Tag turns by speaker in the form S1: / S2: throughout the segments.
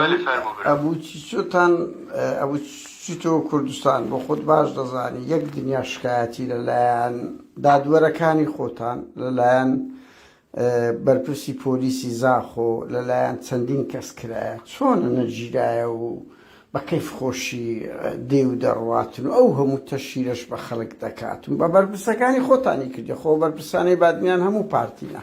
S1: بەلێ
S2: فەرموو برا. ئەبوو چیتۆتان
S1: ئەبوو چیتۆ کوردستان بۆ خۆت باش دەزانی یەک دنیا شکایەتی لە لایەن دادوەرەکانی خۆتان لە لایەن بەرپرسی پۆلیسی زاخۆ لە لایەن چەندین کەس کرایە چۆنە نەگیرایە و بە کەیف خۆشی دێ و دەڕواتن و ئەو هەموو تەشیرەش بە خەڵک دەکات و بە بەرپرسەکانی خۆتانی کردی خۆ بەرپرسانەی بادنیان هەموو پارتینە.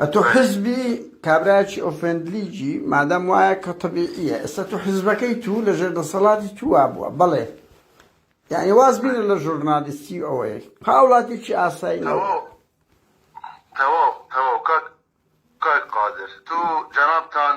S1: ئەتو حزبی کابرایەکی ئۆفێند لیگی مادام وایە کە تەبیعیە ئێستا تو حزبەکەی تو لە ژێر دەسەڵاتی تو وابوە بەڵێ یعنی واز بینە لە ژورنالیستی و ئەوەی هاوڵاتیکی ئاسایی نەوە تەواو تەواو کاک کاک قادر تو
S2: جەنابتان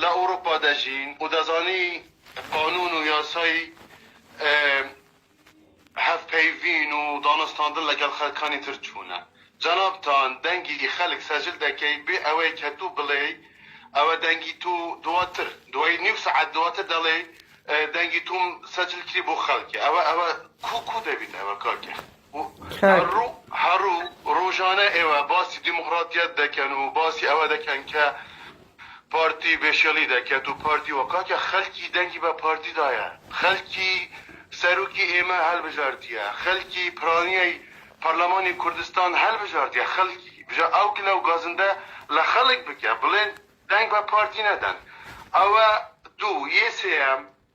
S2: لە ئەوروپا دەژین و دەزانی قانون و یاسای هەڤپەیڤین و دانوستاندن لەگەڵ خەلکانی تر چونە. جەنابتان دەنگی خەلک سەجل دەکەی بێ ئەوەی کە تو بڵێی ئەوە دەنگی تو دواتر دوای نیو سەعات دواتر دەڵێی دەنگی توم سەجل کری بۆ خەلک ئەوە ئەوە کو کو دەبیت ئەوە کاکە. کاک. هەڕو ڕۆژانە ئێوە باسی دیموقڕاتیەت دەکەن و باسی ئەوە دەکەن کە پارتی بێشێڵی دەکەت و پارتی و کاکە خەلکی دەنگی بە پارتی دایە خەلکی سەروکی ئێمە هەلبژاردیە خەلکی پرانیەی پەرلەمانی کوردستان هەلبژاردیە خەلکی بژە ئەو گلە و گازندە لە خەلک بکە بڵێن دەنگ بە پارتی نەدەن ئەوە دوو یێ سێەم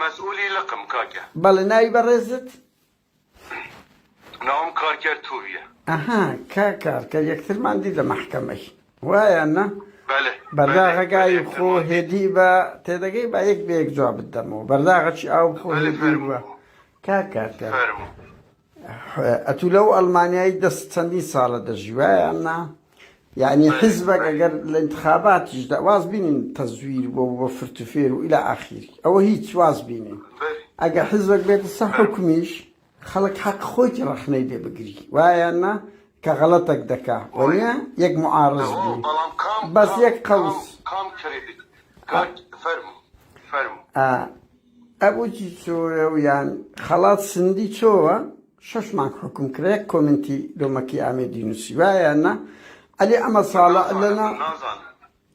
S2: مەسئولی لقم کاکە. بەڵێ ناوی بەڕێزت؟
S1: ناوم
S2: کارکەر توویە. ئەها کا
S1: کارکەر یەکترمان دی لە مەحکەمەی وایە نا؟ بەلێ بەرداغە گای خۆ هێدی بە تێدەگەی با یەک بەیەک جوابت دەمەوە بەرداغەچی ئاو خۆ هێدی بە کاکە فەرموو. ئەتوو لەو ئەڵمانیایی دەست چەندین ساڵە دەژی وایە نا یعنی حزبەک ئەگەر لە انتخاباتیش دا واز بینین تەزویر بۆ بۆ فرتوفێر و الى ئاخیر ئەوە هیچ واز بینین ئەگە حزبەک بێتە سە حکمیش خەڵک حەق خۆیتی ڕەخنەی لێ بگری وایە نا کە غەڵەتەک دەکا وەە یەک معارز بوو بەس یەک قەوس فەرمو فەرمو ئەبوجی چۆیە و یان خەڵات سندی چۆوە شەش مانگ حوکم کرا یەک کۆمنتی دۆمەکی ئامێدی نوسی وایە یان نا عەلی ئەمە ساڵە لەنا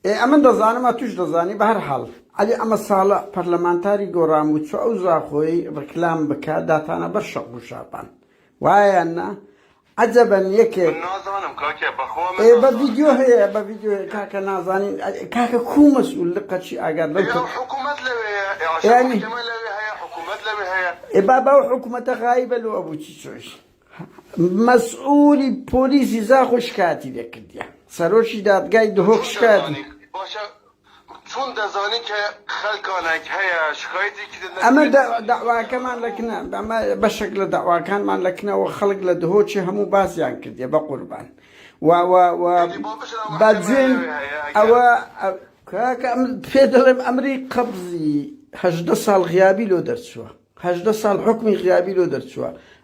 S1: ئێ ئەمن دەزانم ئەتوش دەزانی بەهەر حاڵ عەلی ئەمە ساڵە پەرلەمانتاری گۆڕان بوو چۆ ئەو زاخۆی ڕیکلام بکا داتانە بەر شەق و شاپان وایە یان نا عەجەبەن یەکێک ئێ بە ڤیدیۆ هەیە بە ڤیدیۆ هەیە کاکە نازانین کاکە کوو مەسئول لقە چی ئاگات بەم کە
S2: یانی ئێ بابا ئەو حکومەتە
S1: غایبە لۆ ئەبوو چی چۆیش مەسئولی پۆلیسی زاخۆ شکاتی لێ کردیە سەرۆکی دادگای دهۆک شکاتی چون دەزانی کە
S2: خەلکانەک هەیە شکایەتی کردن لە ئەمە دە دەعواکەمان
S1: لە کنە ئەمە بەشێک لە دەعواکانمان لە کنەوە خەڵک لە دهۆکی هەموو باسیان کردیە بە قوربان وا وا وا بە جوێن ئەوە کاکە ئەم پێ دەڵێم ئەمری قەبزی هەژدە ساڵ غیابی لۆ دەرچووە هەژدە ساڵ حکومی غیابی لۆ دەرچووە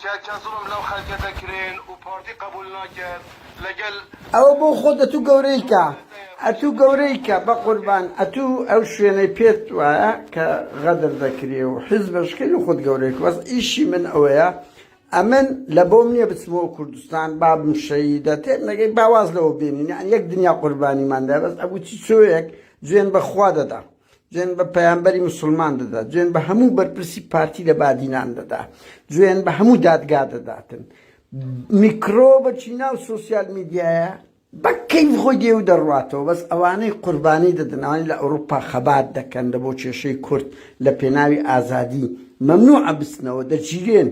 S2: کە کە زوڵم لەو خەلکە دەکرێن و پارتی قەبول ناکەت لەگەل. ئەوە بۆ خۆت
S1: ئەتوو گەورەیکە ئەتوو گەورەیکە بەقوربان ئەتوو ئەو شوێنەی پێت وایە کە غەدر دەکرێ و حیزبش کەی لە خۆت گەورەیکە بەس ئیشی من ئەوەیە ئەمن لە بۆم نیە بچمەوە کوردستان بابم شەهیدە تێم نەگەی با واز لەوە بێنین یان یەک دنیا قوربانیمان دا بەس ئەبوو چی چۆیەک جوێن بە خوا دەدام جوێن بە پەیامبەری مسلمان دەدا جوێن بە هەموو بەرپرسی پارتی لە بادینان دەدا جوێن بە هەموو دادگا دەداتن میکرۆبەچی ناو سوسیال میدیایە بەکەین خۆی دێو دەڕاتەوە بەس ئەوانەی قوربانی دەدنەوەی لە ئەوروپا خەبات دەکەن لە بۆ کێشەی کورد لە پێناوی ئازادی مەمنوع ئەبستنەوە دەگیرێن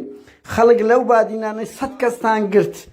S1: خەڵک لەو بادینانەی سەد کەستان گرت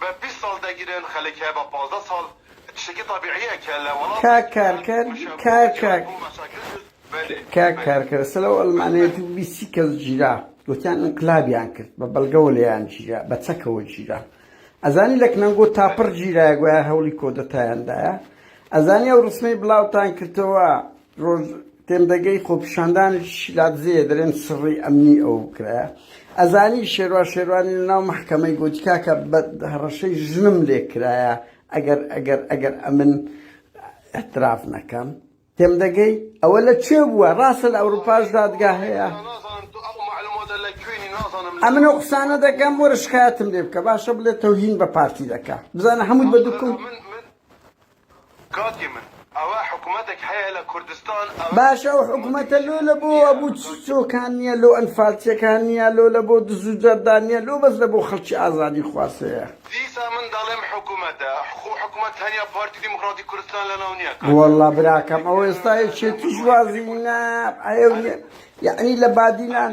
S2: بە بیست ساڵ دەگیرێن خەلک هەیە بە پازدە ساڵ تشتێکی
S1: طبیعیە کە لە وەڵاتێک کار کار کار کار کاک کارکەر سلە و ئەلمانەیەتی و بیسی کەس گیرا گوتیان انقلابیان کرد بە بەڵگەوە لێیان گیرا بە چەکەوە گیرا ئەزانی لە کنەنگۆ تاپڕ گیرایە گویا هەوڵی کۆدەتایاندایە ئەزانی ئەو ڕسمەی بڵاوتان کردەوە ڕۆژ تێمدەگەی خۆپیشاندانی شیلادزێ دەرێن سڕی ئەمنی ئەو کرایە ئەزانی شێروا شێروانی ناو محکەمەی گۆتی کاکە بە هەڕەشەی ژنم لێ کرایە ئەگەر ئەگەر ئەگەر ئەمن احتراف نەکەم تێمدەگەی ئەوە لە کوێ بووە ڕاستە لە ئەوروپاش دادگا هەیە ئەمن و قسانە دەکەم وەرە شکایەتم لێ بکە باشە بڵێ تەوهین بە پارتی دەکە بزانە هەمووی بە دوکم کاکی من ئەوە حکومەتەک هەیە لە
S2: کوردستان ئەوە چ باشە ئەو حکومەتە
S1: لۆ لە بۆ وا بوو چ چۆکان نیە لۆ ئەنفالچیەکان نیە لۆ لە بۆ دز و جەردان نیە لۆ بەس لە بۆ خەلکی ئازادی خواز هەیە. دیسا من دەڵێم
S2: حکومەتە خۆ حکومەت تەنیا پارتی دیموکراتی کوردستان لە ناو نیە کاکی من وەاللە براکەم
S1: ئەوە یەکێتی ئێستا ناوێرا یەکێتیش وازی نە ئەیەو نیە یەعنی لە بادینان.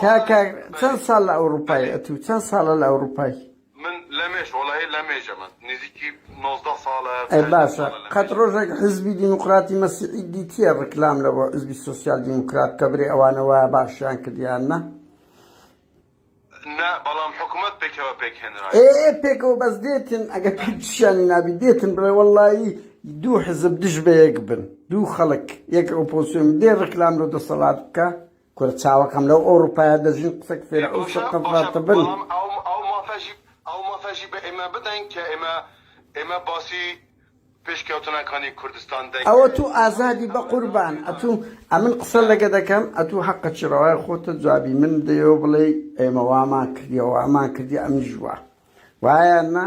S1: کاکە چەند ساڵ لە ئەوروپای ئەتوو چەند ساڵە لە ئەوروپای من لەمێش
S2: وڵی لەمێژە من نزیکی 19 ساڵە باشە
S1: قەت ڕۆژێک حزبی دیموکراتی مەسیحی دیتیە ڕکلام لە بۆ حزبی سوسیال دیموکرات کە برێ ئەوانەوە باشیان کردیان نە نا
S2: بەڵام حکوومەت پێکەوە پێکهێنرا پێکەوە بەس
S1: دێتن ئەگە پیشانی نابی دێتن بڵێ وەڵایی دوو حزب دژ بە یەک بن دوو خەڵک یەک ئۆپۆسیۆن دێ ڕکلام لە دەسەڵات بکە کورە چاوەکەم لەو ئەوروپایە دەژین قسە فیرعەون شەق قەزاتە بن. ئەو مافەژی ئەو مافەژی
S2: بە ئێمە بدەن کە ئێمە ئێمە باسی پێشکەوتنەکانی کوردستان دەکەین. ئەوە تو ئازادی
S1: بە قوربان ئەتو ئەمن قسە لەگە دەکەم ئەتو حەقەکی ڕەوای خۆتە جوابی من دەیەوە بڵێی ئێمە وامان کردیە وامان کردیە ئەمیش وا وایە نا؟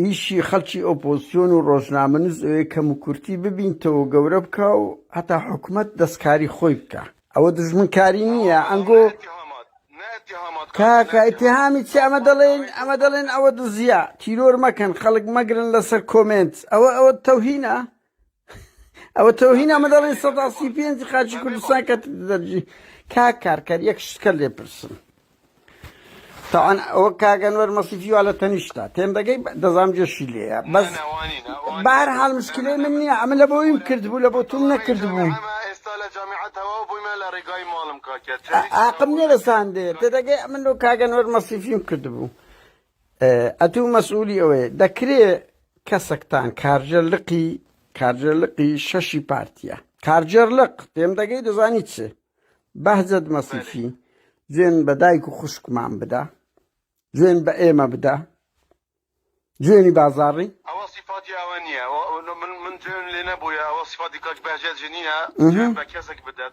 S1: ئیشی خەڵکی ئۆپۆزسیۆن و ڕۆژنامەنووس ئەوەیە کەموکورتی ببینتەوەو گەورە بکا و هەتا حکومەت دەستکاری خۆی بکا ئەوە دوژمنکاری نیە ئەنگۆ کاکە ئیتیهامی چی ئەمە دەڵێن ئەمە دەڵێن ئەوە دزیە تیرۆر مەکەن خەڵک مەگرن لەسەر کۆمێنت ئەوە ئەوە تەوهینە ئەوە تۆهین ئەمە دەڵێن سەدا سی پێنج خاچی کوردستان کە دەرجی کا کارکەر یەک شتکە لێ پرسم تاوان ئەوە کاگەنوەر مەسیفی وا لە تەنیشتا تێم دەگەی دەزام جێشی لێە بەس بار حال مشکلەی من نییە ئەمە لە بۆیم کردبوو لە بۆ تۆم نەکردبوو
S2: ئاقم نێرەساندێ
S1: تێدەگەی من و کاگەنوەر مەسیفیم کردبوو. ئەتوو مەسئولی ئەوەی دەکرێ کەسەکتان کارجە لقی کارجە لقی شەشی پارتیە کارجەر لق پێم دەگەی دەزانی چ بەهجەت مەسیفی جوێن بە دایک و خوشکمان بدە جوێن بە ئێمە بدە جوێنی بازاڕی ئەوە سیفاتی ئەوە
S2: نییە من من جوێن لێ نەبووە ئەوە سیفاتی کاک بەهجەت ژنیە جوێن بە کەسێک بدەن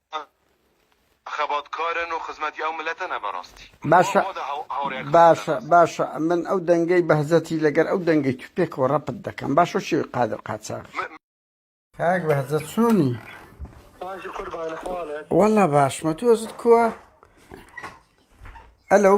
S2: خەبات کارن و خزمەتی ئەو ملەتەنە بەراستی. باشە
S1: باشە باشە من ئەو دەنگەی بەهزەتی لەگەر ئەو دەنگەی تو پێکەوە ڕەپت دەکەم باشە شێوی قادر قاچاغ. کاک بەهزە چۆنی وەڵا باشمە تۆزت کووە ئەلەو.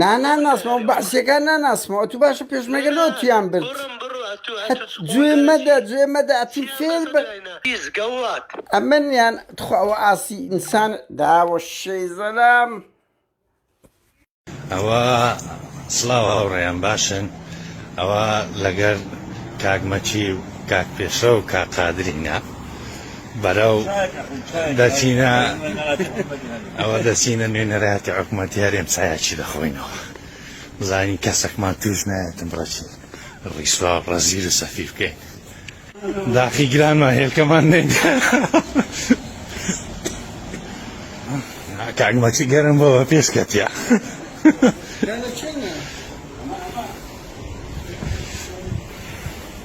S1: نا نا ناسمەوە بەعسیەکان ناناسمەوە تو باشە پێشمەگە لۆ تیان برد گوێ مەدە گوێ مەدە ئەتی فێر بە
S3: ئەمنیان
S1: تخواوە ئاسی ئینسان داوە شەی زەلام
S4: ئەوە سلااو هاوڕێیان باشن ئەوە لەگەر کاکمەچی و کاک پێشە و کاقادرینە بەرەو دەچینە ئەوە دەچینە نوێنەرایەتی حکوومەتی هەرێم چایەکی دەخۆینەوە بزانین کەسەکمان توش نایەتم ڕەچین ڕیسوا ڕەزیر و سەفی بکەین داخی گرانمان هێلکەمان نێن کاگمەچی گەرم بەوە پێشکەتە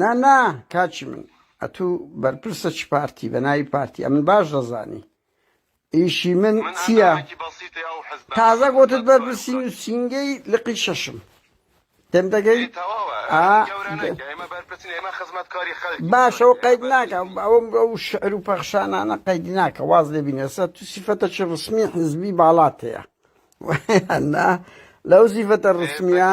S1: نا نا کاکی من ئەتو بەرپرسە چ پارتی بە ناوی پارتی ئەمن باش دەزانی ئیشی من چییە تازە گوتت بەرپرسی نووسینگەی لقی شەشم تێم دەگەی باشە و قەید ناکە ئەوم ئەو شعر و پەخشانانە قەیدی ناکە واز لێ بینێسە تو سیفەتە چ ڕسمی حزبی باڵات هەیە لەو سیفەتە ڕسمیە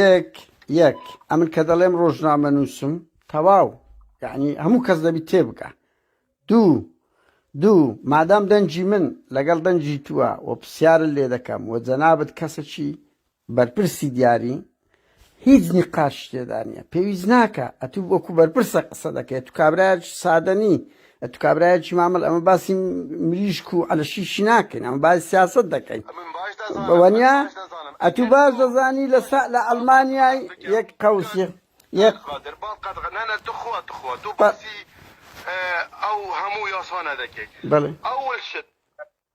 S1: یەک یەک ئەمن کە دەڵێم ڕۆژنامە نووسم تەواو یعنی هەموو کەس دەبی تێبگە دوو دوو مادام دەنجی من لەگەڵ دەنجی تووە و پرسیارە لێ دەکەم و جەنابەت کەسەکی بەرپرسی دیاری هیچ نقاش تێدا نیە پێویست ناکە ئەتوو وەکو بەرپرسە قسە دەکەێت و کابراج سادەنی ئەتو کابرایەکی مامەڵ ئەمە باسی مریشک و عەلەشیشی ناکەین ئەمە باسی سیاست دەکەین بەوەنیا ئەتو باش دەزانی لە سا لە ئەلمانیای یەک قەوسی یەک ئەو هەموو یاسانە
S2: دەکەیت بەڵێ ئەول
S1: شت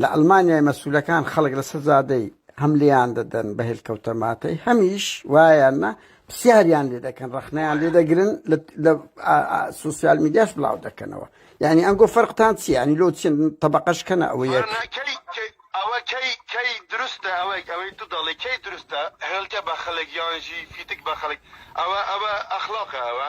S1: لە ئەلمانیای مەسولەکان خەڵک لە سەر جادەی هەم لێیان دەدەن بە هێلکەوتە ماتەی هەمیش وایان نا پسیاریان لێ دەکەن ڕخنەیان لێ دەگرن لە سوسیال میدیاش بڵاو دەکەنەوە یعنی ئەنگۆ فەرقتان چی ینی لۆ چین طبقەش کەنە ئەوە یەک ئەوە کەی کەی دروستە ئەوەی ئەوەی تو دەڵی کەی
S2: دروستە هێلکە بە خەلک یانژی فیتک بە خەلک ئەوە ئەوە ئەخلاقە ئەوە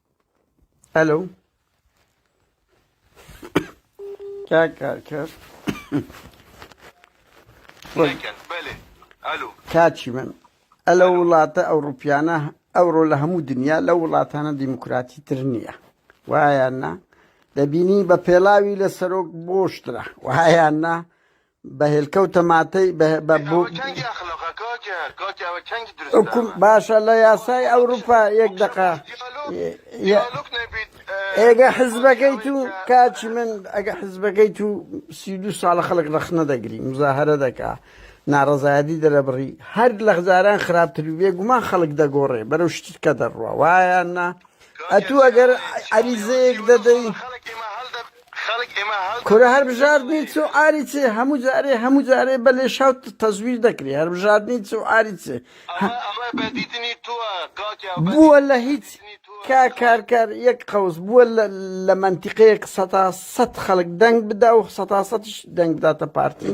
S2: ئەلو
S1: کاک کارکەر
S2: کاچی من
S1: ئەلە وڵاتە ئەوروپیانە ئەوڕۆ لە هەموو دنیا لە وڵاتانە دیموکراتی تر نییە وایان نا دەبینی بە پێڵاوی لە سەرۆک بۆشترە وهایان نا بە هێلکەو تەماتەی بە بە ئەوە بوو چەندی ئەخلاقە کاکە کاکە ئەوە چەندی دروست حکوم ئەمە باشە لە یاسای ئەوروپا یەک خۆ دەقە بەس دیالۆگ دیالۆگ نەبیت ئێگە ئەی کاکی حزبەکەی ئەوەی تو کە کاچی من ئەگە حزبەکەی تو سی و دوو ساڵە خەڵک ڕەخنە دەگری مزاهرە دەکا ناڕەزایەتی دەرەبڕی هەر لە جاران خراپتر بێ گومان خەڵک دەگۆڕێ بەرەو شتکە دەڕوا وایە نا کاکە ئەتوو ئەگەر سیاوەری عەریزەیەک سیاوەری دەدەی ساڵە خەڵک ئێمە هەڵدە
S2: کورە هەربژاردنی
S1: چ و عاری چ هەموو جارێ هەموو جارێ بە لێشاو تەزویر دەکری هەربژاردنی چ و عاری چ
S2: بووە لە هیچ
S1: کا کارکار یەک قەوس بووە لە مەنتیقەیەک سەتا سەد خەڵک دەنگ بدا و سەتا سەتیش دەنگ بداتە پارتی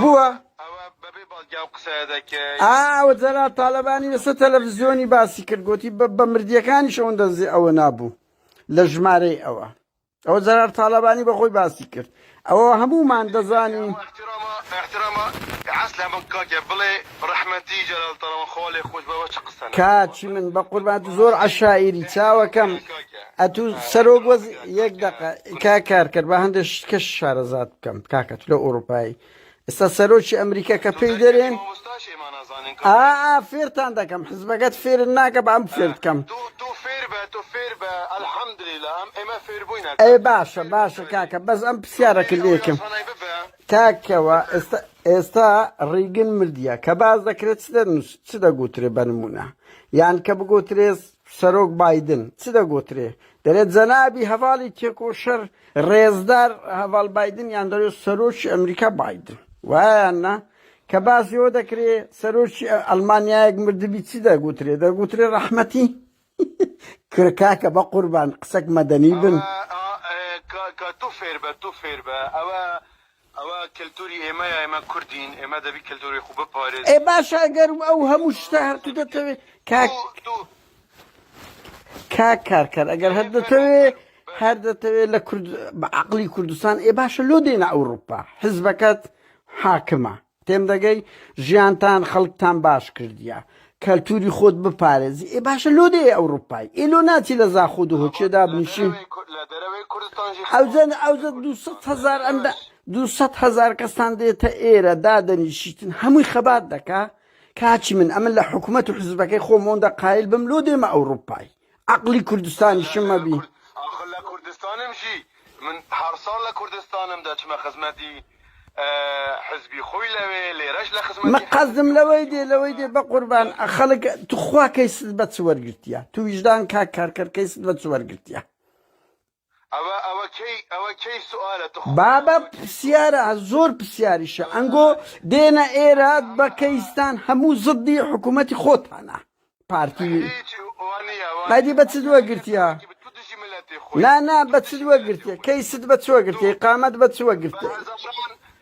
S2: بووە ئاوە جەرا
S1: تاالبانی لەسەر تەلەڤزیۆنی باسی کرد گوتی بە مردیەکانی شەون دەزی ئەوە نابوو لە ژمارەی ئەوە ئەوە جەرار تاالبانی بەخۆی باسی کرد ئەوە هەمومان دەزانین
S2: کاچی من بە
S1: قوربات زۆر عشاعری چاوەکەم ئەتوو سەرۆک وەز یەک دقە کا کارکرد بە هەندێک شکە شارەزات کەم کاکە تلۆ ئوروپایی ئستا سەرۆکی ئەمریکا کە پێی دەرێن ئا فێرتان دەکەم حزبەکەت فێر ناکە بە ئەم فێرت کەم
S2: ئەێ باشە باشە
S1: کاکە بەس ئەم پرسیارەکە لێکم کاکەوە ئێستا ئێستا ڕیگن مردە کە باز دەکرێت چ دەگوترێ بەنمونە یان کە بگوترێت سەرۆک بایدن چ دەگۆترێ؟ دەرێت جەنابی هەڤاڵی تێکۆشەر ڕێزدار هەڤاڵ بایدن یان دەرێت سەرۆکی ئەمریکا بایدن وایان نا؟ کە باس یۆ دەکرێ سەرۆکی ئەلمانیایەک مردبی چی دەگوترێ دەگوترێ ڕەحمەتی کرکاکە بە قوربان قسەک مەدەنی بن. ئەوە کە تو فێر بە
S2: تو فێر بە ئەوە ئەوە کەلتوری ئێمەیە ئێمە کوردین ئێمە دەبی کەلتوری خو
S1: بپارێزین. ئەی باشە ئەگەر ئەو هەموو شتە هەر تو دەتەوێ کاک کاک کارکەر ئەگەر هەر دەتەوێ هەر دەتەوێ لە کورد بە عەقلی کوردستان ئێ باشە لۆ دێنە ئەوروپا حزبەکەت حاکمە تێمدەگەی ژیانتان خەڵکتان باش کردیە کەلتوری خۆت بپارێزی ئێ باشە لۆ دێ ئەوروپای ئێ لۆ ناچی لە زاخۆ دهۆکێ دابنیشی ئەوزەن ئەوزە دو هزار ئەندە دو هزار کەستان دێتە ئێرە دادەنیشیتن هەمووی خەبات دەکا کاچی من ئەمن لە حکوومەت و حزبەکەی خۆمۆندە قایل بم لۆ دێمە ئەوروپای عەقڵی کوردستانیشم مەبی. ئاخر لە
S2: کوردستانم ژی من هەر ساڵ لە کوردستانم دەچمە خزمەتی حزبی خۆی لەوێ لێرەش لە خزمەتی من قەزدم لەوەی
S1: دێ لەوەی دێ بەقوربان خەلک توخوا کەیست بە چ وەرگرتیە تو ویژدان کاک کارکەر کەیست بە چ وەرگرتیە
S2: بابە پسیارە
S1: زۆر پسیاریشە ئەنگۆ دێنە ئێرە بە کەیستان هەموو زدی حکومەتی خۆتانە پارتی قەدی بە چ دووە گرتیە نا نا بە چ دووە گرتیە کەی ست بە چوە گرتی قامەت بە چوە گرتێ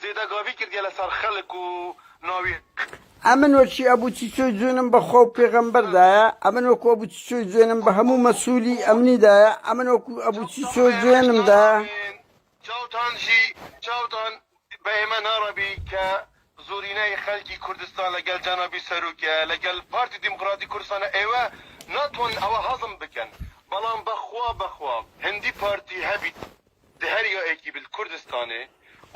S2: زێدە گاوی کردیە لە سەر خەلک و ناوی. ئەمن
S1: وەکی ئەبو چیچۆی جوێنم بە خوا و پێغەمبەر دایە، ئەمن وەکو ئەبو چیچۆی جوێنم بە هەموو مەسولی ئەمنی دایە، ئەمن وەکو ئەبو چیچۆ جوێنم دایە. چاوتان ژی
S2: چاوتان بە ئێمە ناڕەبی کە زورینەی خەلکی کوردستان لە گەل جەنابی سەروکە لە گەل پارتی دیموقراتی کوردستانە ئێوە ناتوانن ئەوە هەزم بکەن بەڵام بە خوا بە خوا هندی پارتی هەبیت دە هەر یۆ ئێکی بل کوردستانێ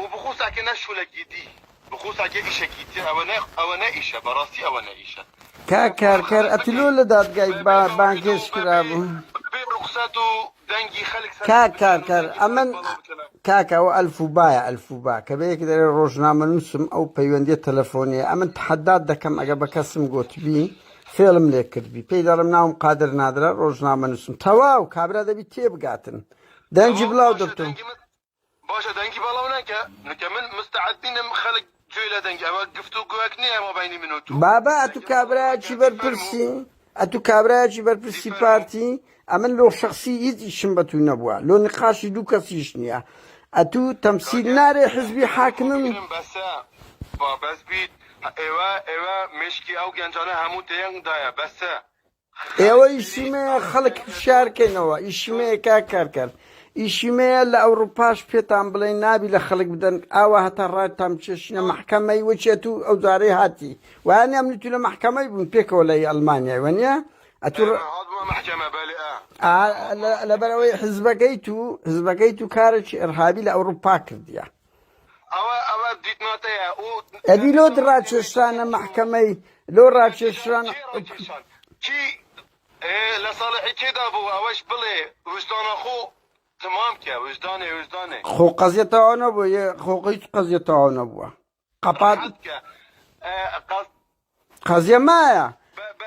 S2: و بخوسا کە نە شولەکی دی بخوسا کە ئیشەکی تیە ئەوە نە ئەوە نە ئیشە بە ڕاستی ئەوە نە ئیشە. کاک کارکەر
S1: ئەتو لۆ لە دادگای با بانگهێشت کرابوو؟ بە بێ ڕوخسەت و
S2: دەنگی خەلک سەر کاک کارکەر ئەمن
S1: کاکە ئەوە ئەلفوبایە ئەلفوبا کە بە یەک دەرێ ڕۆژنامەنوسم ئەو پەیوەندیە تەلەفۆنیە ئەمن تەحەدات دەکەم ئەگە بە کەسم گۆتبی فێڵم لێ کردبی پێی دەڵێم ناوم قادر نادرە ڕۆژنامەنوسم تەواو کابرا دەبی تێبگاتن دەنگی بلاو دکتۆر باشە
S2: دەنگی باڵاو نەکە نکە من مستعد نینم خەلک گوێ لە دەنگی ئەوە گفت و گوێک نییە مابینی من و تو بابا ئەتو کابراکی
S1: بەرپرسی ئەتو کابراکی بەرپرسی پارتی ئەمن لۆ شخصی هیچ ئیشم بە تو نەبووە لۆ نقاشی دوو کەسیش نییە ئەتو تەمسیل نارێ حزبی حاکمم بەسە
S2: بابەس بیت ئێوە ئێوە مشکی ئەو گەنجانە هەموو تێنگ دایە بەسە
S1: ئێوە ئیشی مەیە خەڵک فشار کەینەوە ئیشی مەیە کا کارکەر ئیشی مەیە لە ئەوروپاش پێتان بڵێ نابی لە خەڵک بدەن ئاوا هەتا ڕاتان چێشنە محکەمەی وەچێت و ئەو جارەی هاتی وایان ئەم تو لە محکەمەی بوون پێکەوە لە ئەلمانیای وەنیە ئەتو لەبەرەوەی حزبەکەی تو حزبەکەی تو کارێکی ئەرهابی لە ئەوروپا کردیە
S2: ئەدی لۆ
S1: دڕاکێشرانە مەحکەمەی لۆ ڕاکێشران
S2: خۆ قەزیە
S1: تەواو نەبووە یە خۆ هیچ قەزیە تەواو نەبووە قەپات. قەزیە مایە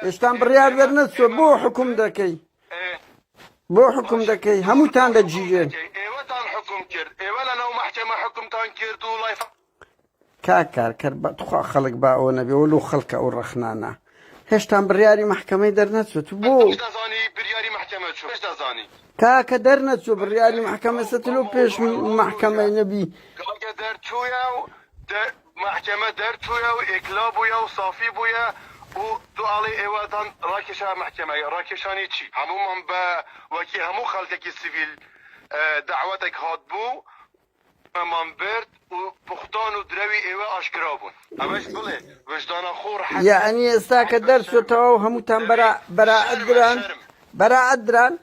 S1: ئێستان بڕیار دەرنەت سۆ بۆ حکوم دەکەی بۆ حکوم دەکەی هەمووتان دەگیرێن کاکارکەر بەخوا خەڵک با ئەوە نەبێ و لو خەڵکە ئەو ڕەخنانە هێشتان بڕیاری مححکەمەی دەرنەچوت بۆ
S2: کاکە دەرنەچوو
S1: بڕیاری مححکەمە سەتلو پێش مححکەمەی نەبی
S2: مەحکەمە دەرچووە و ئێکلا بووە و سافی بووە و تۆ ئەڵێی ئێوەتان ڕاکێشا مەحکەمە، ڕاکێشانی چی؟ هەموومان بە وەکی هەموو خەڵکێکی سڤیل دەعوەتێک هاتبوو و ئێمەمان برد و بوختان و درەوی ئێوە ئاشکرا بوون. ئەمەش بڵێ وژدانە خۆڕ حەزی ئەوە یەعنی ئێستا کە
S1: دەرچووە تەواو هەمووتان بەرا بەرائەت دران؟ بەرائەت دران؟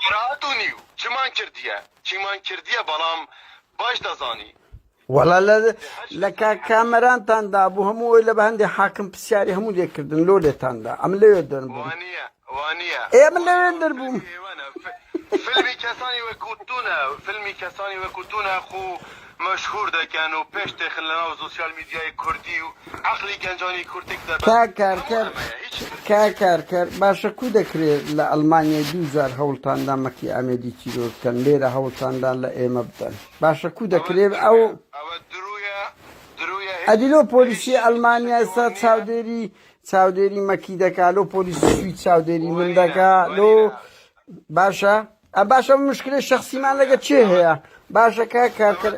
S2: بەرائەت و نیو چمان کردیە چیمان کردیە بەڵام باش دەزانی وەڵا لە
S1: لە کاک کامەرانتان دابوو هەموو ئەوی لە بە هەندێ حاکم پرسیاری هەموو لێ کردن لۆ لێتاندا ئەم لەوێ دەربووم وانە
S2: وانە ئێ من لەوێ وانە
S1: دەربووم فیلمی ئێوەنە ف- فیلمی کەسانی
S2: وەکوتونە فیلمی کەسانی وەکوتونە خو مەشهور دەکەن و پێش تێخن لە ناو سوسیال میدیای کوردی و عەقلی گەنجانی کورد تێک دەبەن کا هەموو کارکەر ئەمەیە هیچ تر نییە کا
S1: کارکەر باشە کو دەکرێت لە ئەڵمانیای دوو جار هەوڵتاندا مەکی ئامێدی تیرۆر بکەن لێرە هەوڵتاندا لە ئێمە بدەن باشە کو دەکرێ ئەو ئەدی لۆ پۆلیسی ئەلمانیا ئێستا چاودێری چاودێری مەکی دەکا لۆ پۆلیسی سوید چاودێری من دەکا لۆ باشە ئە باشە مشکلی شخصیمان لەگە چێ هەیە باشەکە کارکرد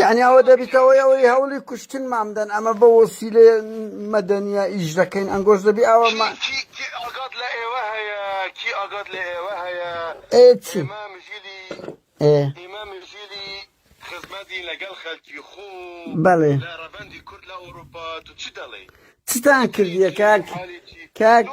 S2: یەعنی ئەوە دەبیتە
S1: هۆی ئەوەی هەوڵی کوشتنمان بدەن ئەمە بە وەسیلەی مەدەنیە ئیش دەکەین ئەنگۆش دەبی ئەوە
S2: بەڵێ چتان کردیە
S1: کاک کاک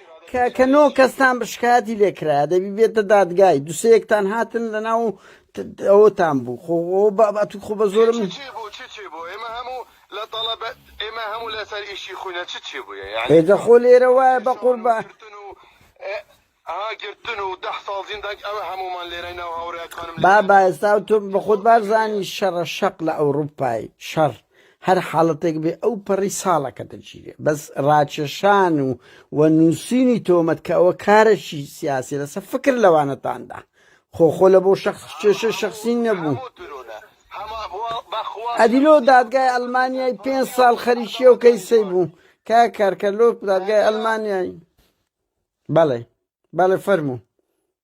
S1: کە کە نۆ کەستان بە شکایەتی لێکرایە دەبی بێتە دادگای دوسەیەکتان هاتن لە ناو ئەوتان بوو خۆ بابات خۆ بە زۆرم
S2: ئێمە هەموو لەسەر ئیشی خوینە چ چی بووە یاگە خۆ لێرە وایە
S1: بە قوربە
S2: گرتن و ده ساڵ زیندان ئەوە هەمومان لێرە ناو هاوڕێکانم بابا ئێستا تۆ
S1: بە خۆت بارزانانی شەڕە شەق لە ئەوروپای شەڕ هەر حاڵەتێک بێ ئەو پەڕی ساڵەکە دەگیرێ بەس ڕاکێشان و و نووسینی تۆمەت کە ئەوە کارەشی سیاسی لەسە فکر لەوانەتاندا خۆخۆ لە بۆ شخص کێشە شخصی نەبوو ئەدیلۆ دادگای ئەلمانیای پێ ساڵ خەریکی و کەیسەی بوو کا کارکە لۆ دادگای ئەلمانیای بەڵێ بەڵێ فەرموو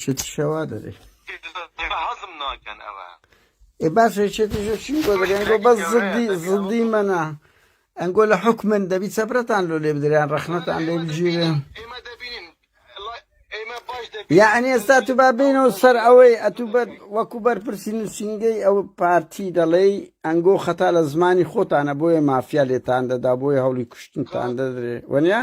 S1: شتی شەوا دەێ هەزم
S2: ناکەن ئەوە ئێ باش
S1: شێتیشی بۆ دەێن گۆ بە زدی زدی مەنا ئەنگۆ لە حکومن دەبی چەپرەتان لۆ لێ بدریان ڕەخنەتان لێ بگیرن یعنی ئێستا تو با بینەوە سەر ئەوەی ئەتو وەکو بەرپرسی نووسنگەی ئەو پارتی دەڵێی ئەنگۆ خەتا لە زمانی خۆتانە بۆیە مافیا لێتان دەدا بۆیە هەوڵی کوشتنتان دەدرێ وەنیا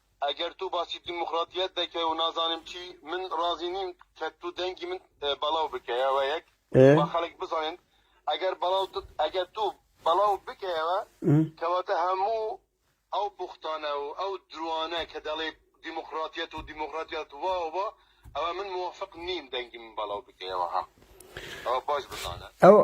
S2: ئەگەر تۆ باسی دیموکراتیەت دەکەی و نازانم چی، من ڕازی نیم کە تۆ دەنگی من بەڵاو بکەیەوە یەک با خەڵک بزانێن ئەگەر بەڵاو ئەگەر تۆ بەڵاو بکەیەوە کەواتە هەموو ئەو بوختانە و ئەو دروانە کە دەڵێی دیموکراتیەت و دیموکراتیەت وا و وا ئەوە من موافق نیم دەنگی من بەڵاو بکەیەوە ها ئەوە باش بزانە ئەوە.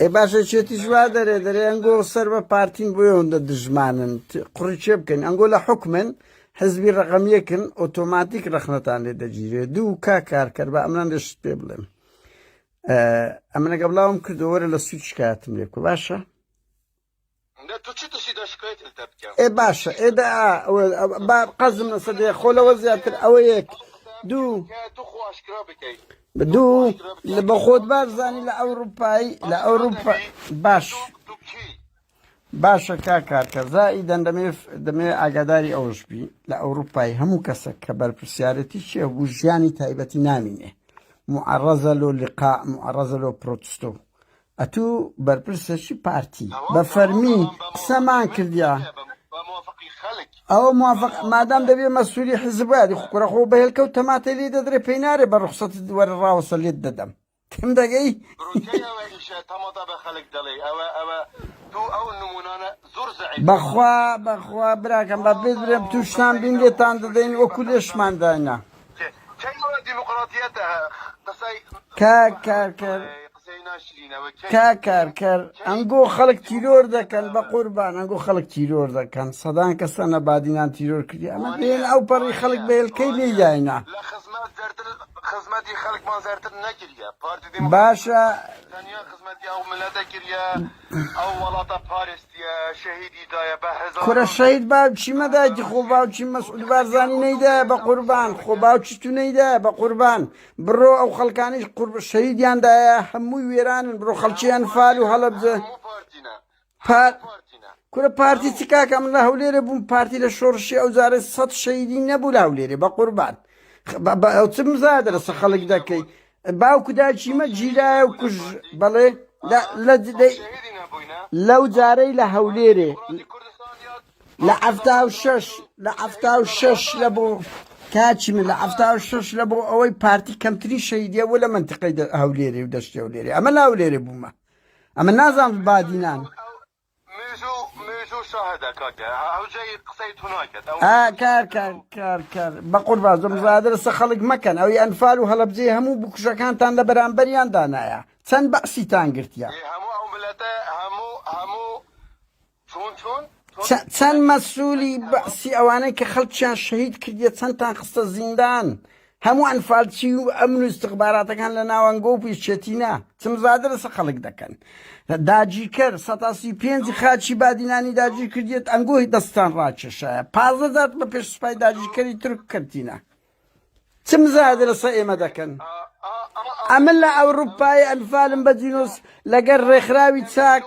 S2: ئێ باشە چێتیش وا
S1: دەرێ دەرێ ئەنگۆ سەر بە پارتین بۆ ئەوەندە دژمانن قڕی چێ بکەین ئەنگۆ لە حکمن حزبی ڕقەمیەکن ئۆتۆماتیک ڕخنەتان لێ دەگیرێت دوو کا کارکەر بە ئەمران دەشت پێ بڵێن ئەمنەگە بڵاوم کردەوەرە لە سوچ شکاتم لێکو باشە
S2: ئێ باشە ئێ دە
S1: ئا ئەوە با قەزم لەسە دێ خۆ لەوە زیاتر ئەوە یەک دوو
S2: دوو
S1: لە بە خۆت بارزانانی لە ئەوروپایی لە ئەوروپا باش باشە کا کارکە زایی دەن دەمێ دەمێ ئاگاداری ئەوش بی لە ئەوروپای هەموو کەسە کە بەرپرسیارەتی چێ بوو ژیانی تایبەتی نامینێ معڕەزە لۆ لقا معڕەزە لۆ پرۆتستۆ ئەتوو بەرپرسە چ پارتی بە فەرمی قسەمان کردیا ئەوە موافق مادام دەبێ مەسووری حزب وادی خوکوڕە خۆ بەهێل کەوت تەماتەی لی دەدرێ پێی نارێ بە ڕخسەت وەرە ڕاوەسە لێت دەدەم تم دەگەی
S2: بەخوا بەخوا
S1: براکەم بە بێ درێم تووشتان بین لێتان دەدەین وەکو لێشمان داینا کاکارکەر ئەنگۆ خەڵک تیرۆر دەکەن بەقوربان ئەنگۆ خەڵک تیرۆر دەکەن سەدان کەسە نەبادینان تیرۆر کردی ئەمە بێن ئەو پەڕی خەڵک بەێلکەی لێ داینا
S2: باشە کورە شەهید باوکی
S1: مە دایکی خۆ باوکی مەسعود بارزانی نەیدایە بە قوربان خۆ باوکی تو نەیدایە بە قوربان بڕۆ ئەو خەڵکانیش قورب شەهیدیان دایە هەمووی وێرانن بڕۆ خەڵکی ئەنفال و هەڵەبجە پار کورە پارتی چ کاکە من لە هەولێرە بووم پارتی لە شۆڕشی ئەو جارە سەد شەیدی نەبوو لە هەولێرێ بە قوربان ئەو چ مزادرە سە خەڵک دەکەی باوک و داکیمە گیرایە و کوژ بەڵێ لەو جارەی لە هەولێرێ لە ئەفتا و شەش لە ئەفتا و شەش لە بۆ کاچی من لە ئەفتا و شەش لە بۆ ئەوەی پارتی کەمتری شەیدە و لە منتقی هەولێرێ و دەشتی هەولێرێ ئەمە لاولێرێ بوومە ئەمە نازان بادینان مێژوو
S2: مێژوو شاهدە کاکە هەوجەی قسەی تو ناکەت ئەو ئا مێژوو کار شاهدە کار و کار کار بەقوربان زۆ ئا
S1: مزایادە لەسە خەڵک مەکەن ئەوی ئەنفال و هەڵەبجەی هەموو بکوژەکانتان لە بەرامبەریان دانایە چەند بەعسیتان گرتیە ئێ هەموو ئەو
S2: ملەتە هەموو هەموو چون چون چون چە چەند
S1: ملەتی مەسولی هەموو بەعسی ئەوانەی کە خەڵکیان شەهید کردیە چەندتان خستە زیندان هەموو ئەنفالچی و ئەمن و ئیستخباراتەکان لە ناوەنگۆ و پیش چێتینا، چمزادە لەسە خەڵک دەکەن. داگیرکەر سەتا سی و پێنج خاکی بادینانی داگیر کردیەت ئەنگۆ دەستان ڕاکێشایە. پازدە جار بە پێش سوپای داگیرکەری تورک کەوتینە. چمزادە لەسە ئێمە دەکەن. ئەمن لە ئەوروپای ئەنفالم بە جینۆس لەگەر ڕێکخراوی چاک.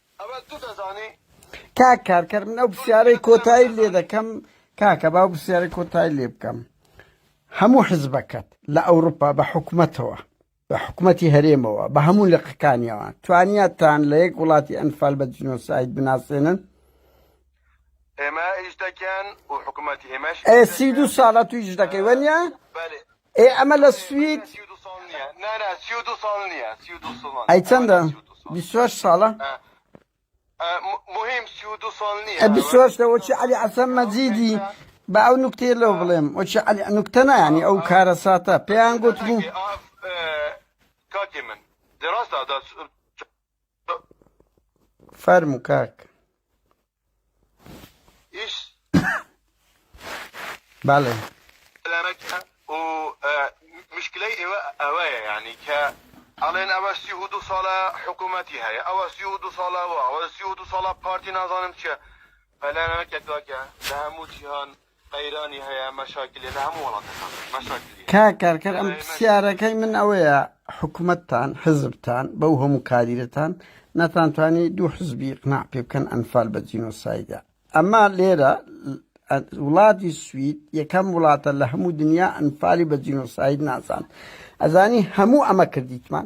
S1: ئەوە تو دەزانی. کاک کارکەر من ئەو پرسیارەی کۆتایی لێ دەکەم کاکە با پرسیارەی کۆتایی لێ بکەم هەموو حزبەکەت لە ئەوروپا بە حکومەتەوە بە حکومەتی هەرێمەوە بە هەموو لقەکانیەوە توانیاتان لە یەک وڵاتی ئەنفال بە جنۆساید بناسێنن
S2: ئێمە ئیش دەکەن و حکومەتی ئێمەش ئێ سی دو ساڵە
S1: تو ئیش دەکەی وەنیە؟ ئێ ئەمە لە سوید
S2: ئەی چەندە
S1: بیست و هەشت ساڵە
S2: ئە بیست و هەشتە وەچی عەلی
S1: عەسەن مەجیدی بە ئەو نوکتەیە لەو بڵێم وەچی عەلی نوکتە نایانی ئەو کارەساتە پێیان گوتبوو
S2: کاکی من دراستە
S1: فەرموو کاک
S2: ئیش
S1: بەڵێ سلامەکە
S2: و مشکلەی ئێوە ئەوەیە یعنی کە ئەڵێن ئەوە سی و دو ساڵە حکوومەتی هەیە ئەوە سی و دو ساڵەوە ئەوە سی و دو ساڵە پارتی نازانم چیە پەلامەکە کاکە لە هەموو جیهان قەیرانی هەیە مەشاکلی لە هەموو وڵاتەکان مەشاکلی. کاک کارکەر ئەم
S1: پسیارەکەی من ئەوەیە حکومەتتان حزبتان بەو هەموو کاریرەتان نەتانتوانی دوو حزبی قناع پێ بکەن ئەنفال بە جینۆسایدە ئەما لێرە وڵاتی سوید یەکەم وڵاتە لە هەموو دنیا ئەنفالی بە جینۆساید نازان ئەزانی هەموو ئەمە کردیتمان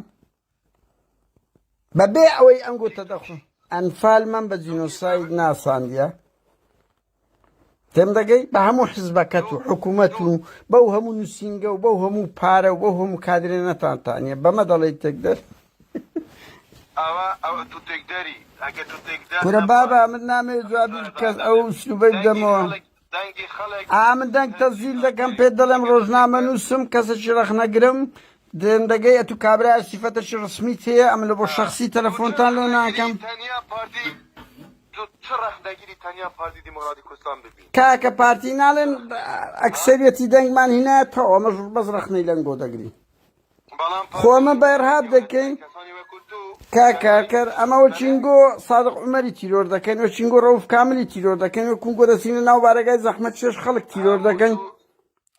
S1: بە بێ ئەوەی ئەم گوتە دەخۆن ئەنفال من بە جینۆساید ناساندە تێم دەگەی بە هەموو حزبەکەت و حکوومەت و بەو هەموو نووسینگە و بەو هەموو پارە و بەو هەموو کادرێ نەتانتانە بەمە دەڵی تێک دەر
S2: کورە بابا من
S1: نامێ جوابی کەس ئەو سلوبەی دەمەوە. ئا من دەنگ تەزیل دەکەم پێت دەڵێم ڕۆژنامەنووسم کەسێکی ڕەخنەگرم دێم دەگەی ئەتو کابرایە سیفەتەکی ڕسمی تێیە ئەمن لە بۆ شەخسی تەلەفۆنتان لێ ناکەم کاکە پارتی ناڵێن ئەکسەریەتی دەنگمان هینایەتەوە ئەمەش بەس ڕەخنەی لەنگۆ دەگرین خۆ ئەمە بە ئێرهاب دەکەین کاک کاکەر ئەمە وەچینگۆ سادق عومەری تیرۆر دەکەین وەچینگۆ ڕەوف کاملی تیرۆر دەکەین و کونگۆ دەچینە ناو بارەگای زەحمەت شێش خەڵک تیرۆر دەکەین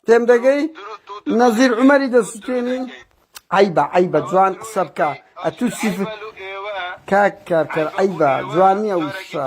S1: تێم دەگەی نەزیر عومەری دەسوتێنین عیبە عیبە جوان قسە بکە ئەتوو سیف کاک کارکەر عیبە جوان نییە وشە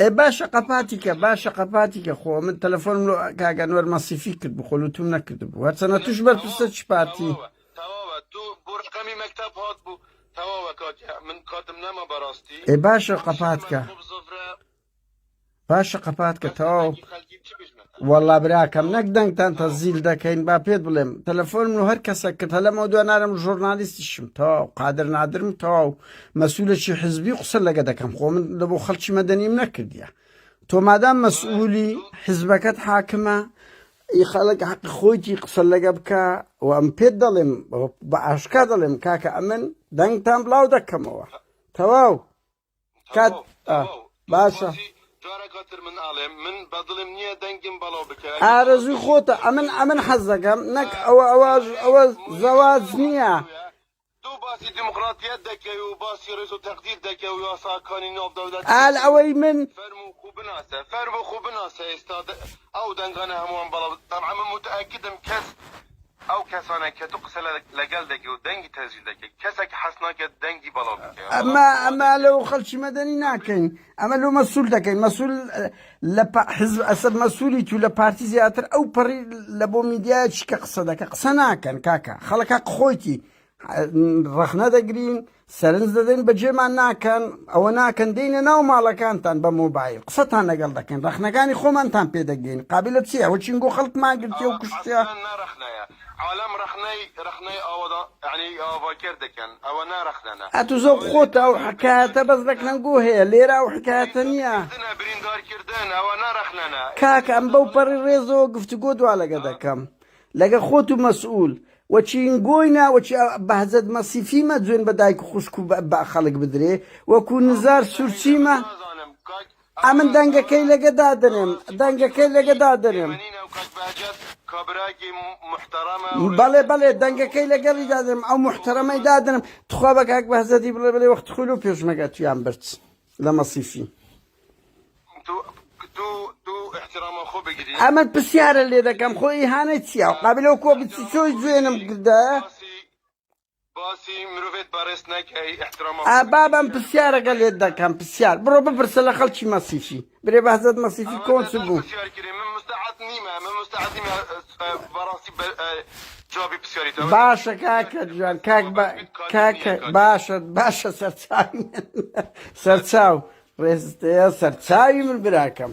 S2: ئێ
S1: باشە قەپاتیکە باشە قەپاتیکە خۆ من تەلەفۆنم لۆ کاگەنوەر مەسیفی کرد بخۆلوتم نەکرد بوو هەرچەنە توش بەرپرسە چ پارتی تەواوە تو
S2: بۆ ڕقەمی مەکتب هات بوو تەواوە کات من کاتم نەما بەڕاستی ئێ باشە قەپاتکە
S1: باشە قەپاتکە تەواو خەلکی چ بژمە وەڵا براکەم نەک دەنگتان تەزیل دەکەین با پێت بڵێم تەلەفۆن و هەر کەسە کە تەلەمەوە دو نارم ژۆرنالیستیشم تەواو قادر نادرم تەواو مەسوولەی حزبی قسە لەگە دەکەم خۆ من لە بۆ خەڵکی مەدەنیم نەکردیە تۆ مادام مەسئولی حزبەکەت حاکمە ئی خەڵک حەق خۆیتی قسە لەگە بکە و ئەم پێت دەڵێم بە ئاشکا دەڵێم کاکە ئەمن دەنگتان بڵاو دەکەمەوە تەواو کات ئا باشە.
S2: ئارەزووی خۆتە
S1: ئەمن ئەمن حەز دەکەم نەک ئەوە ئەوە ئەوە زەواج نییە.
S2: ئال ئەوەی من ئەو دەنگانە هەمووان بەڵام متئکدم کەس ئەو کەسانەی کە تو قسە لە گەل دەکەی و دەنگی تەسجیل دەکەی کەسە کە حەز ناکەت دەنگی بەڵاو بیکەوێ بەڵام ئەمە بڵاو ئەمە
S1: دەکەی لەو خەلکی مەدەنی ناکەین ئەمە لەو مەسول دەکەین مەسول لە پا حزب ئەسد مەسولی تو لە پارتی زیاتر ئەو پەڕی لە بۆ میدیا چی کە قسە دەکە قسە ناکەن کاکە خەڵک هەق خۆیتی ڕەخنە دەگرین سەرنج دەدەین بەجێمان ناکەن ئەوە ناکەن دێینە ناو ماڵەکانتان بە مۆبایل قسەتان لەگەڵ دەکەین ڕەخنەکانی خۆمانتان پێ دەگەین قابلە چی ئەوە چین گۆ خەڵکمان گرتیە و کوشتیە. ئەوە نا ڕەخنەیە
S2: عالەم ڕەخنەی ڕەخنەی ئاوەدان یانی ئاڤاکێر دەکەن ئەوە نا ڕەخنە نە. ئەتو زۆر خۆتە ئەو
S1: حکایەتە بەس ڕەکنەن گۆ هەیە لێرە ئەو حکایەتە نیە. بریندارکردنە بریندارکردن
S2: ئەوە نا ڕەخنە نە. کاکە ئەم بەو پەڕی
S1: ڕێزەوە گفتوگۆ دوالەگە دەکەم لەگە خۆت و مەسئول و چینگۆینا و چ بەهجەت مەسیفی مە جوێن بە دایک و خوشک و بە خەلک بدرێ وەکوو نزار سورچی مە ئەمن دەنگەکەی لەگە دادەنێم دەنگەکەی لەگە دادەنێم. بەڵێ بەڵێ دەنگەکەی لەگەڵی دادەنێم ئەو موحتەرەمەی دادەنێم توخوا بە کاک بەهجەتی بڵێ بڵێ وەخت خۆی لۆ پێشمەرگە تویان برد. لە مەسیفی. ئەمەت پرسیارە لێ دەکەم خۆ ئیهانە چیە و قابلە و کۆ بچی چۆی جوێنم کردە بابم پرسیارەکە لێت دەکەم پرسیار بڕۆ بپرسە لە خەڵکی مەسیفی برێ بەهجەت مەسیفی کۆن چ بوو؟ باشە کاکە جوان کاک بە کاکە باشە باشە سەرچاوی سەرچاو ڕێزتەیە سەرچاوی من براکەم